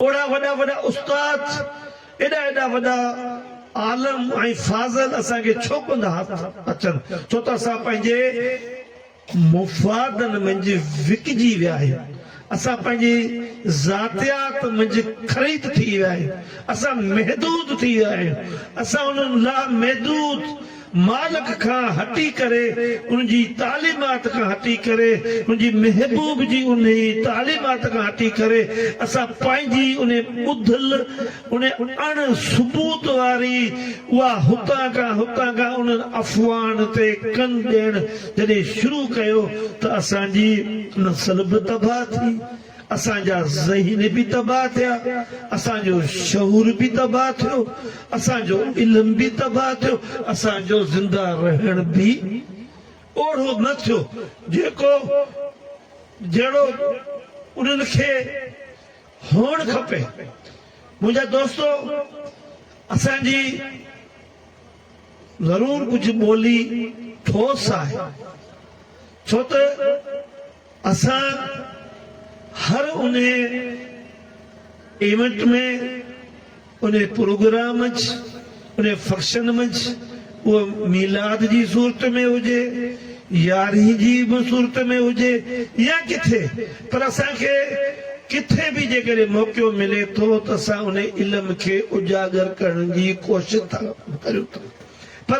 اوڙا وڏا وڏا استاد، ايڏا ايڏا وڏا عالم ۽ فاضل اسان کي ڇو ڪونه ٿا اچن؟ ڇو ته اسان پنهنجي مفادن منجهه وڪجي ويا آهيون. اسان پنهنجي ذاتيات منجهه خريد ٿي ويا آهيون. اسان محدود ٿي ويا آهيون. اسان انهن لامحدود مالڪ کان هٽي ڪري، ان جي تعليمات کان هٽي ڪري، ان جي محبوب جي انهي تعليمات کان هٽي ڪري، اسان پنهنجي انهي ٻڌل، انهي اڻ ثبوت واري اها هتان کان هتان کان انهن افواهن تي ڪن ڏيڻ جڏهن شروع ڪيو ته اسان جي نسل به تباهه ٿي. اسان جا ذهن به تباهه ٿيا، اسان جو شعور به تباهه ٿيو، اسان جو علم به تباهه ٿيو، اسان جو زنده رهڻ به اوهڙو نه ٿيو جيڪو جهڙو انهن کي هئڻ کپي. منهنجا دوستو اسان جي ضرور ڪجهه ٻولي ٺوس آهي ڇو ته اسان هر انهي ايونٽ ۾ انهي پروگرام منجھ انهي فنڪشن منجھ اهو ميلاد جي صورت ۾ هجي يارهين جي به صورت ۾ هجي يا ڪٿي پر اسان کي ڪٿي به جيڪڏهن موقعو ملي ٿو ته اسان انهي علم کي اجاگر ڪرڻ جي ڪوشش ٿا ڪريون ٿا پر